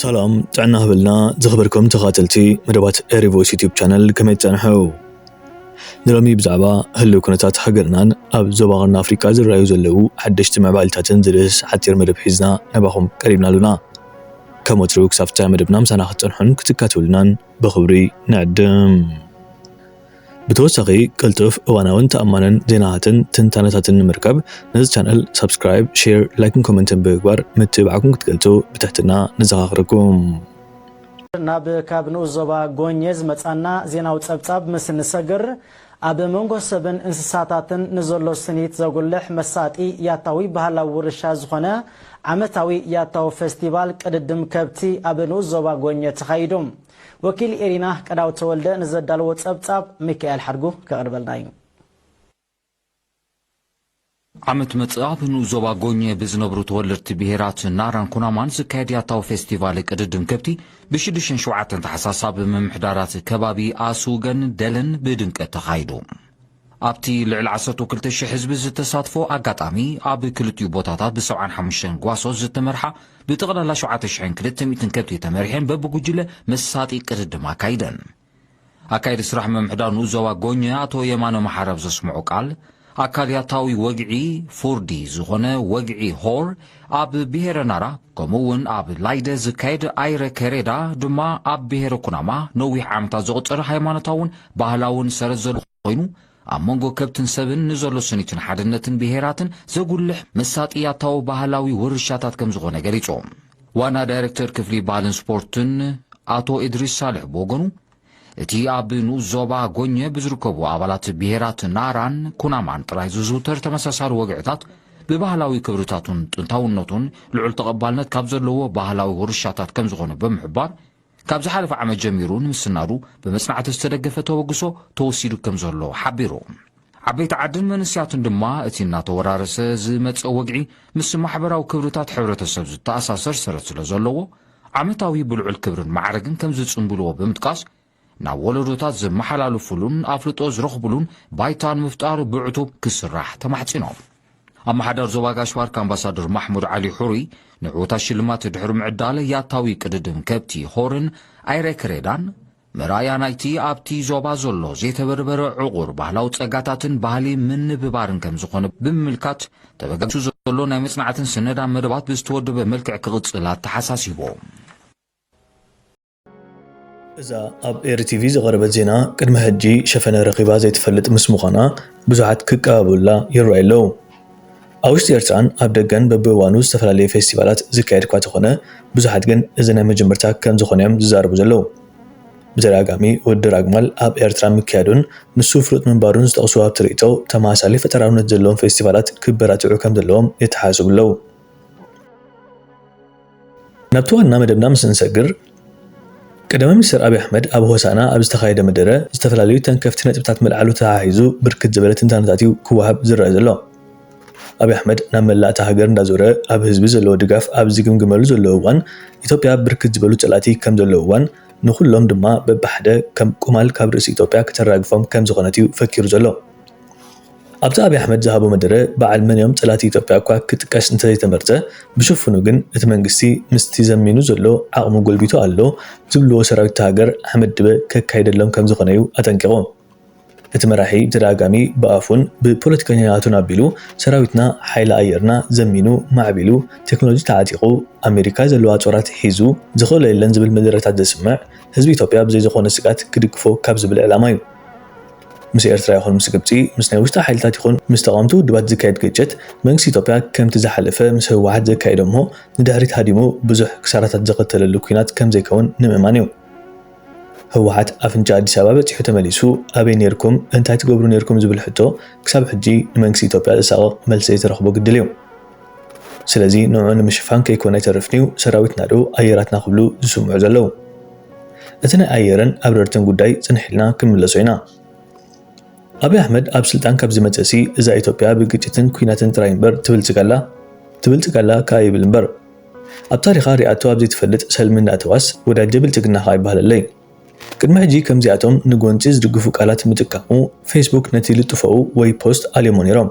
ሰላም ጥዕና ህብልና ዝኽበርኩም ተኻተልቲ መደባት ኤሪቮይስ ዩቲብ ቻነል ከመይ ትጸንሐው ንሎሚ ብዛዕባ ህልው ኩነታት ሃገርናን ኣብ ዞባ ቀርኒ ኣፍሪቃ ዝረኣዩ ዘለዉ ሓደሽቲ ምዕባሊታትን ዝርስ ሓጺር መደብ ሒዝና ናባኹም ቀሪብና ኣሉና ከም ወትሩ ክሳብ ፍጻሜ መደብና ምሳና ክትጸንሑን ክትካተሉናን ብኽብሪ ንዕድም ብተወሳኺ ቅልጡፍ፣ እዋናውን ተኣማንን ዜናታትን ትንታነታትን ንምርካብ ነዚ ቻነል ሳብስክራይብ፣ ሼር፣ ላይክን ኮመንትን ብምግባር ምትብባዕኩም ክትገልጹ ብትሕትና ነዘኻኽረኩም። ናብ ካብ ንኡስ ዞባ ጎኜ ዝመጻና ዜናዊ ጸብጻብ ምስ እንሰግር፣ ኣብ መንጎ ሰብን እንስሳታትን ንዘሎ ስኒት ዘጉልሕ መሳጢ ያታዊ ባህላዊ ውርሻ ዝኾነ ዓመታዊ ያታዊ ፈስቲቫል ቅድድም ከብቲ ኣብ ንኡስ ዞባ ጎኜ ተኻይዱ። ወኪል ኢሪና ቀዳውት ተወልደ ንዘዳለዎ ጸብጻብ ሚካኤል ሓድጉ ከቕርበልና እዩ። ዓመት መጽእ ኣብ ንኡስ ዞባ ጎኘ ብዝነብሩ ተወለድቲ ብሄራት ናራን ኩናማን ዝካየድ ያታዊ ፌስቲቫል ቅድድም ከብቲ ብሽዱሽተን ሸውዓተን ተሓሳሳብ ምምሕዳራት ከባቢ ኣስውገን ደለን ብድምቀት ተኻይዱ። ኣብቲ ልዕሊ ዓሰርተው ክልተ ሽሕ ህዝቢ ዝተሳትፎ ኣጋጣሚ፣ ኣብ ክልቲኡ ቦታታት ብሰብዓን ሓሙሽተን ጓሶት ዝተመርሓ ብጠቕላላ ሸውዓተ ሽሕን ክልተ ሚእትን ከብቲ ተመሪሐን በብጉጅለ መሳጢ ቅድድም ኣካይደን። ኣካየዲ ስራሕ ምምሕዳር ንኡስ ዞባ ጎኘ ኣቶ የማነ መሓሪ ኣብ ዘስምዖ ቃል፣ ኣካል ያታዊ ወግዒ፣ ፉርዲ፣ ዝኾነ ወግዒ ሆር፣ ኣብ ብሄረ ናራ ከምኡ እውን ኣብ ላይደ ዝካየድ ኣይረ ከሬዳ ድማ ኣብ ብሄረ ኩናማ ነዊሕ ዓመታት ዘቑፀረ ሃይማኖታውን ባህላውን ሰረት ዘልኾ ኮይኑ ኣብ መንጎ ከብትን ሰብን ንዘሎ ስኒትን ሓድነትን ብሄራትን ዘጉልሕ መሳጥያታዊ ባህላዊ ውርሻታት ከም ዝኾነ ገሊፆም። ዋና ዳይሬክተር ክፍሊ ባህልን ስፖርትን ኣቶ እድሪስ ሳልሕ ብወገኑ እቲ ኣብ ንኡስ ዞባ ጎኘ ብዝርከቡ ኣባላት ብሄራት ናራን ኩናማን ጥራይ ዝዝውተር ተመሳሳሊ ወግዕታት ብባህላዊ ክብርታቱን ጥንታውነቱን ልዑል ተቐባልነት ካብ ዘለዎ ባህላዊ ውርሻታት ከም ዝኾነ ብምሕባር ካብ ዝሓለፈ ዓመት ጀሚሩ ንምስናዱ ብመጽናዕቲ ዝተደገፈ ተበግሶ ተወሲዱ ከም ዘሎ ሓቢሩ። ዓበይቲ ዓድን መንስያትን ድማ እቲ እናተወራረሰ ዝመጽእ ወግዒ ምስ ማሕበራዊ ክብርታት ሕብረተሰብ ዝተኣሳሰር ሰረት ስለ ዘለዎ ዓመታዊ ብልዑል ክብርን ማዕርግን ከም ዝጽንብልዎ ብምጥቃስ፣ ናብ ወለዶታት ዘመሓላልፉሉን ኣፍልጦ ዝረኽቡሉን ባይታ ንምፍጣር ብዕቱብ ክስራሕ ተማሕጺኖም። ኣመሓዳር ዞባ ጋሽ-ባርካ ኣምባሳደር ማሕሙድ ዓሊ ሕሩይ፣ ንዕዉታት ሽልማት ድሕሪ ምዕዳል ያታዊ ቅድድም ከብቲ ሆርን ኣይረ ክሬዳን፣ መርኣያ ናይቲ ኣብቲ ዞባ ዘሎ ዘይተበርበረ ዕቑር ባህላዊ ጸጋታትን ባህሊ ምንብባርን ከም ዝኾነ ብምምልካት፣ ተበገሱ ዘሎ ናይ መጽናዕትን ስነዳ መደባት ብዝተወደበ መልክዕ ክቕጽል ኣተሓሳሲቦም። እዛ ኣብ ኤሪ ቲቪ ዝቐረበት ዜና ቅድሚ ሕጂ ሸፈነ ረኺባ ዘይትፈልጥ ምስ ምዃና ብዙሓት ክቀባበሉላ ይረኣዩ ኣለዉ። ኣብ ውሽጢ ኤርትራን ኣብ ደገን በብእዋኑ ዝተፈላለዩ ፌስቲቫላት ዝካየድ እኳ ተኾነ ብዙሓት ግን እዚ ናይ መጀመርታ ከምዝኾነ እዮም ዝዛረቡ ዘለዉ። ብተደጋጋሚ ውድድር ኣግማል ኣብ ኤርትራ ምክያዱን ንሱ ፍሉጥ ምንባሩን ዝጠቕሱ ሃብቲ ርእይቶ ተመሳሳሊ ፈጠራውነት ዘለዎም ፌስቲቫላት ክበራትዑ ከምዘለዎም የተሓሳስቡ ኣለዉ። ናብቲ ዋና መደብና ምስ እንሰግር፣ ቀዳማይ ሚኒስተር ኣብይ ኣሕመድ ኣብ ሆሳእና ኣብ ዝተኻየደ መደረ ዝተፈላለዩ ተንከፍቲ ነጥብታት ምልዓሉ ተሓሒዙ ብርክት ዝበለ ትንታነታት እዩ ክወሃብ ዝረኣ ዘሎ። ኣብይ ኣሕመድ ናብ መላእ እታ ሃገር እንዳዞረ ኣብ ህዝቢ ዘለዎ ድጋፍ ኣብ ዝግምግመሉ ዘሎ እዋን ኢትዮጵያ ብርክት ዝበሉ ፀላእቲ ከም ዘለውዋን ንኹሎም ድማ በብሓደ ከም ቁማል ካብ ርእሲ ኢትዮጵያ ክተራግፎም ከም ዝኾነት እዩ ፈኪሩ ዘሎ። ኣብቲ ኣብይ ኣሕመድ ዝሃቦ መደረ በዓል መንዮም ፀላእቲ ኢትዮጵያ እኳ ክጥቀስ እንተዘይተመርፀ ብሽፉኑ ግን እቲ መንግስቲ ምስቲ ዘሚኑ ዘሎ ዓቕሙ ጎልቢቱ ኣሎ ዝብልዎ ሰራዊት'ታ ሃገር ሓመድ ድበ ከካይደሎም ከምዝኾነ'ዩ ኣጠንቂቖም። እቲ መራሒ ብተደጋጋሚ ብኣፉን ብፖለቲከኛታቱን ኣቢሉ ሰራዊትና ሓይሊ ኣየርና ዘሚኑ ማዕቢሉ ቴክኖሎጂ ተዓጢቑ ኣሜሪካ ዘለዋ ፆራት ሒዙ ዝኽእሎ የለን ዝብል መደረታት ዘስምዕ ህዝቢ ኢትዮጵያ ብዘይዝኾነ ስግኣት ክድግፎ ካብ ዝብል ዕላማ'ዩ ምስ ኤርትራ ይኹን ምስ ግብጺ፣ ምስ ናይ ውሽጢ ሓይልታት ይኹን ምስ ተቓወምቲ ውድባት ዝካየድ ግጭት፣ መንግስቲ ኢትዮጵያ ከምቲ ዝሓለፈ ምስ ህወሓት ዘካየዶ'ሞ ንድሕሪት ሃዲሙ ብዙሕ ክሳራታት ዘኸተለሉ ኲናት ከምዘይከውን ንምእማን'ዩ። ህወሓት ኣፍንጫ ኣዲስ ኣበባ በጺሑ ተመሊሱ ኣበይ ኔርኩም እንታይ ትገብሩ ኔርኩም ዝብል ሕቶ ክሳብ ሕጂ ንመንግስቲ ኢትዮጵያ ዘሳቕቕ መልሲ ዘይተረኽቦ ግድል'ዩ። ስለዚ ንዑ ንምሽፋን ከይኮነ ኣይተርፍን'ዩ ሰራዊትና'ዶ ኣየራትና ክብሉ ዝስምዑ ዘለዉ። እቲ ናይ ኣየርን ኣብረርትን ጉዳይ ጽንሕ ኢልና ክንምለሶ ኢና። ኣብይ ኣሕመድ ኣብ ስልጣን ካብ ዝመጸእሲ እዛ ኢትዮጵያ ብግጭትን ኩናትን ጥራይ እምበር ትብልጽግ ኣላ? ትብልጽግ ኣላ ክኣ ይብል እምበር ኣብ ታሪኻ ሪኣቶ ኣብ ዘይትፈልጥ ሰልሚ እንዳእተዋስ ወዳጀ ብልጽግና ክኣ ይበሃለለይ። ቅድሚ ሕጂ ከምዚኣቶም ንጎንጺ ዝድግፉ ቃላት ምጥቃሙ ፌስቡክ ነቲ ልጥፎኡ ወይ ፖስት ኣልዮሞ ኔሮም።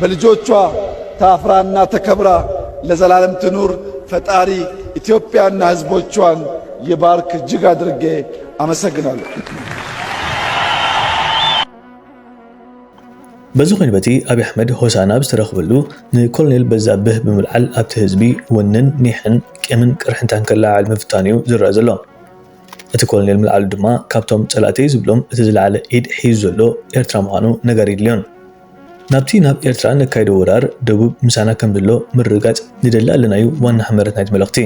በልጆቿ ታፍራና ተከብራ ለዘላለም ትኑር ፈጣሪ ኢትዮጵያና ህዝቦቿን ይባርክ እጅግ አድርጌ አመሰግናለሁ። በዚ ኮይኑ በቲ ኣብይ ኣሕመድ ሆሳና ኣብ ዝተረኽበሉ ንኮሎኔል በዛብህ ብምልዓል ኣብቲ ህዝቢ ወንን ኒሕን ቂምን ቅርሕንታን ከለዓዕል ምፍታኑ እዩ ዝረኣ ዘሎ። እቲ ኮሎኔል ምልዓሉ ድማ ካብቶም ፀላእተይ ዝብሎም እቲ ዝለዓለ ኢድ ሒዙ ዘሎ ኤርትራ ምዃኑ ነጋሪ የድልዮን። ናብቲ ናብ ኤርትራ ነካይዶ ወራር ደቡብ ምሳና ከምዘሎ ምርግጋፅ ንደሊ ኣለናዩ ዋና ሕመረት ናይቲ መልእኽቲ።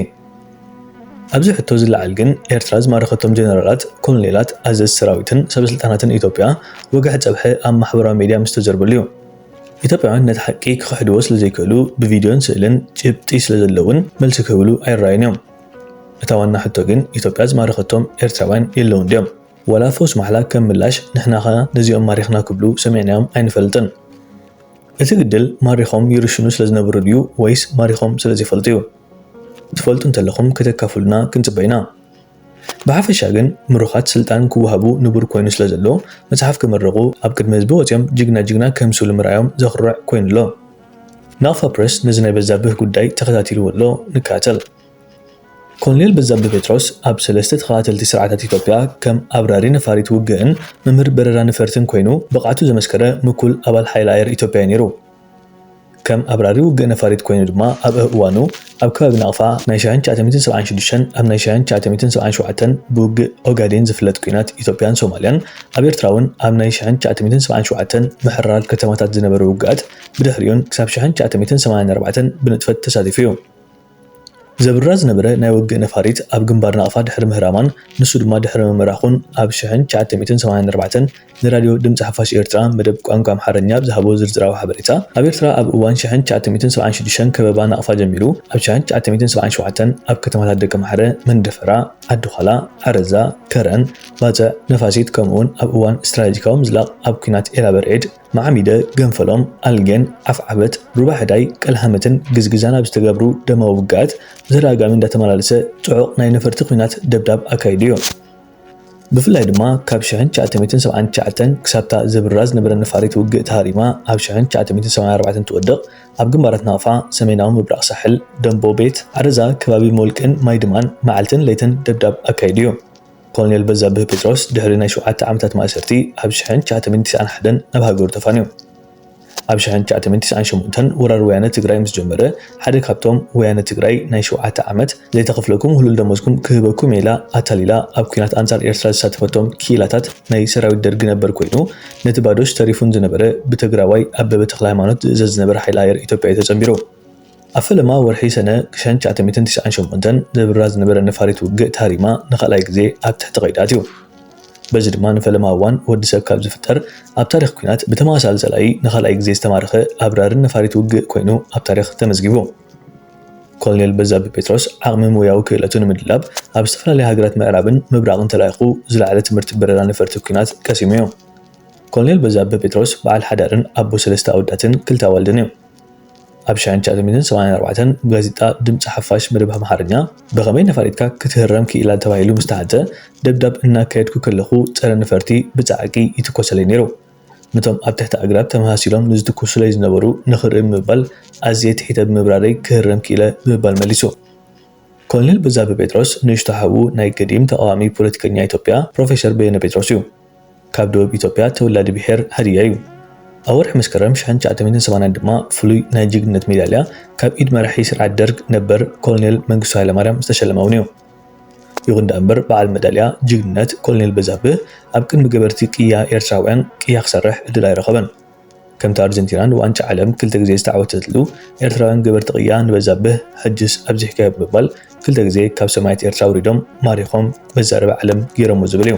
ኣብዚ ሕቶ ዝለዓል ግን ኤርትራ ዝማረኸቶም ጀነራላት፣ ኮሎኔላት፣ ኣዘዝቲ ሰራዊትን ሰበስልጣናትን ኢትዮጵያ ወግሐ ፀብሐ ኣብ ማሕበራዊ ሚድያ ምስተዘርበሉ ዩ። ኢትዮጵያውያን ነቲ ሓቂ ክኽሕድዎ ስለዘይክእሉ ብቪድዮን ስእልን ጭብጢ ስለዘለውን መልሲ ክህብሉ ኣይረኣዩን ዮም። እታ ዋና ሕቶ ግን ኢትዮጵያ ዝማረኸቶም ኤርትራውያን የለውን ድዮም? ዋላ ፈውስ ማሕላ ከም ምላሽ ንሕናኸ ነዚኦም ማሪኽና ክብሉ ሰሚዕናዮም ኣይንፈልጥን። እቲ ግድል ማሪኾም ይርሽኑ ስለ ዝነበሩ ድዩ ወይስ ማሪኾም ስለ ዘይፈልጡ'ዩ? ትፈልጡ እንተለኹም ከተካፍሉና ክንጽበ ኢና። ብሓፈሻ ግን ምሩኻት ስልጣን ክወሃቡ ንቡር ኮይኑ ስለ ዘሎ መጽሓፍ ክምርቑ ኣብ ቅድሚ ህዝቢ ወጺኦም ጅግና ጅግና ክህምስሉ ምርኣዮም ዘኹርዕ ኮይኑ ኣሎ። ናቕፋ ፕረስ ነዚ ናይ በዛብህ ጉዳይ ተኸታቲልዎ ኣሎ፣ ንከታተል። ኮሎኔል በዛብህ ጴጥሮስ ኣብ ሰለስተ ተኸታተልቲ ስርዓታት ኢትዮጵያ ከም ኣብራሪ ነፋሪት ውግእን መምህር በረራ ነፈርትን ኮይኑ ብቕዓቱ ዘመስከረ ምኩል ኣባል ሓይሊ ኣየር ኢትዮጵያ'ዩ ነይሩ። ከም ኣብራሪ ውግእ ነፋሪት ኮይኑ ድማ ኣብ እዋኑ ኣብ ከባቢ ናቕፋ ናይ ሻሕን ትሽዓተሚትን ሰብዓን ሽዱሽተን ኣብ ናይ ሻሕን ትሽዓተሚትን ሰብዓን ሸውዓተን ብውግእ ኦጋዴን ዝፍለጥ ኲናት ኢትዮጵያን ሶማልያን ኣብ ኤርትራውን ኣብ ናይ ሻሕን ትሽዓተሚትን ሰብዓን ሸውዓተን ምሕራር ከተማታት ዝነበረ ውግኣት ብድሕሪኡን ክሳብ ሻሕን ትሽዓተሚትን ሰማንያን ኣርባዕተን ብንጥፈት ተሳቲፉ'ዩ። ዘብርራ ዝነበረ ናይ ውግእ ነፋሪት ኣብ ግንባር ናቕፋ ድሕሪ ምህራማን ንሱ ድማ ድሕሪ ምምራኹን ኣብ ሻሕን ትሽዓተሚትን ሰማንያን ኣርባዕተን ንራድዮ ድምጺ ሓፋሽ ኤርትራ መደብ ቋንቋ ኣምሓርኛ ኣብ ዝሃቦ ዝርዝራዊ ሓበሬታ፣ ኣብ ኤርትራ ኣብ እዋን ሽሕን ትሽዓተ ሚእትን ሰብዓን ሽዱሽተን ከበባ ናቕፋ ጀሚሩ ኣብ ሽሕን ትሽዓተ ሚእትን ሰብዓን ሸውዓተን ኣብ ከተማታት ደቀምሓረ፣ መንደፈራ፣ ዓዲዃላ፣ ዓረዛ፣ ከረን፣ ባጽዕ፣ ነፋሲት ከምኡ'ውን ኣብ እዋን ስትራተጂካዊ ምዝላቕ ኣብ ኲናት ኤላበርዒድ፣ ማዓሚደ፣ ገንፈሎም፣ ኣልጌን፣ ዓፍዓበት፣ ሩባሕዳይ፣ ቀልሃመትን ግዝግዛን ኣብ ዝተገብሩ ደማዊ ውግኣት ብተደጋጋሚ እንዳተመላለሰ ጽዑቕ ናይ ነፈርቲ ኲናት ደብዳብ ኣካይዱ'ዩ። ብፍላይ ድማ ካብ ሽሕን ትሽዓተ ሚእትን ሰብዓን ትሽዓተን ክሳብታ ዘብርራ ዝነበረ ነፋሪት ውግእ ተሃሪማ ኣብ ሽሕን ትሽዓተ ሚእትን ሰብዓን ኣርባዕተን ትወድቕ ኣብ ግንባራት ናቕፋ፣ ሰሜናዊ ምብራቕ ሳሕል፣ ደምቦ ቤት፣ ዓረዛ፣ ከባቢ ሞልቅን ማይድማን መዓልትን ለይትን ደብዳብ ኣካይዱ እዩ። ኮሎኔል በዛብህ ጴጥሮስ ድሕሪ ናይ ሸውዓተ ዓመታት ማእሰርቲ ኣብ ሽሕን ትሽዓተ ሚእትን ትስዓን ሓደን ናብ ሃገሩ ተፋንዩ። ኣብ ሽሕን ትሽዓተሚእትን ትስዓን ሸሞንተን ወራር ወያነ ትግራይ ምስ ጀመረ ሓደ ካብቶም ወያነ ትግራይ ናይ ሸውዓተ ዓመት ዘይተኸፍለኩም ህሉል ደሞዝኩም ክህበኩም እየ ኢላ ኣታሊላ ኣብ ኩናት ኣንጻር ኤርትራ ዘሳተፈቶም ክኢላታት ናይ ሰራዊት ደርጊ ነበር ኮይኑ ነቲ ባዶሽ ተሪፉን ዝነበረ ብተግራዋይ ኣበበ ተክለሃይማኖት ዝእዘዝ ዝነበረ ሓይሊ ኣየር ኢትዮጵያ እዩ ተጸንቢሩ። ኣብ ፈለማ ወርሒ ሰነ ክሸን ትሽዓተ ሚእትን ትሽዓን ሸሞንተን ዘብርራ ዝነበረ ነፋሪት ውግእ ተሃሪማ ንኻልኣይ ግዜ ኣብ ትሕቲ ቀይዲ ኣትዩ። በዚ ድማ ንፈለማ እዋን ወዲ ሰብ ካብ ዝፍጠር ኣብ ታሪኽ ኲናት ብተመሳሳሊ ጸላኢ ንኻልኣይ ግዜ ዝተማረኸ ኣብራሪ ነፋሪት ውግእ ኮይኑ ኣብ ታሪኽ ተመዝጊቡ። ኮሎኔል በዛብህ ጴጥሮስ ዓቕሚ ሞያዊ ክእለቱ ንምድላብ ኣብ ዝተፈላለያ ሃገራት ምዕራብን ምብራቕን ተላኢኹ ዝለዓለ ትምህርቲ በረራ ነፈርቲ ኲናት ቀሲሙ እዩ። ኮሎኔል በዛብህ ጴጥሮስ በዓል ሓዳርን ኣቦ ሰለስተ ኣወዳትን ክልተ ኣዋልድን እዩ። ኣብ ሽሕን ትሽዓተ ሚእትን ሰማንያን ኣርባዕተን ጋዜጣ ድምጺ ሓፋሽ መደብ ኣምሓርኛ ብኸመይ ነፋሪትካ ክትህረም ክኢላ ተባሂሉ ምስ ተሓተ ደብዳብ እናካየድኩ ከለኹ ጸረ ነፈርቲ ብጻዕቂ ይትኮሰለይ ነይሩ። ነቶም ኣብ ትሕቲ ኣግራብ ተመሳሲሎም ንዝትኩሱለይ ዝነበሩ ንኽርኢ ብምባል ኣዝየ ትሒተ ብምብራረይ ክህረም ክኢለ ብምባል መሊሱ። ኮሎኔል በዛብህ ጴጥሮስ ንእሽቶ ሓዉ ናይ ገዲም ተቓዋሚ ፖለቲከኛ ኢትዮጵያ ፕሮፌሰር በየነ ጴጥሮስ እዩ። ካብ ደቡብ ኢትዮጵያ ተወላዲ ብሔር ሃድያ እዩ። ኣብ ወርሒ መስከረም ሽሕን ትሽዓተ ሚእትን ሰማንያን ድማ ፍሉይ ናይ ጅግንነት ሜዳልያ ካብ ኢድ መራሒ ስርዓት ደርግ ነበር ኮሎኔል መንግስቱ ሃይለማርያም ዝተሸለመ እውን እዩ። ይኹን ደኣ እምበር በዓል መዳልያ ጅግንነት ኮሎኔል በዛብህ ኣብ ቅድሚ ገበርቲ ቅያ ኤርትራውያን ቅያ ክሰርሕ ዕድል ኣይረኸበን። ከምቲ ኣርጀንቲና ንዋንጫ ዓለም ክልተ ግዜ ዝተዓወተትሉ፣ ኤርትራውያን ገበርቲ ቅያ ንበዛብህ ሕጅስ ኣብዚሕካዮ ብምባል ክልተ ግዜ ካብ ሰማያት ኤርትራ ኣውሪዶም ማሪኾም መዛረቢ ዓለም ጌሮሞ ዝብል እዩ።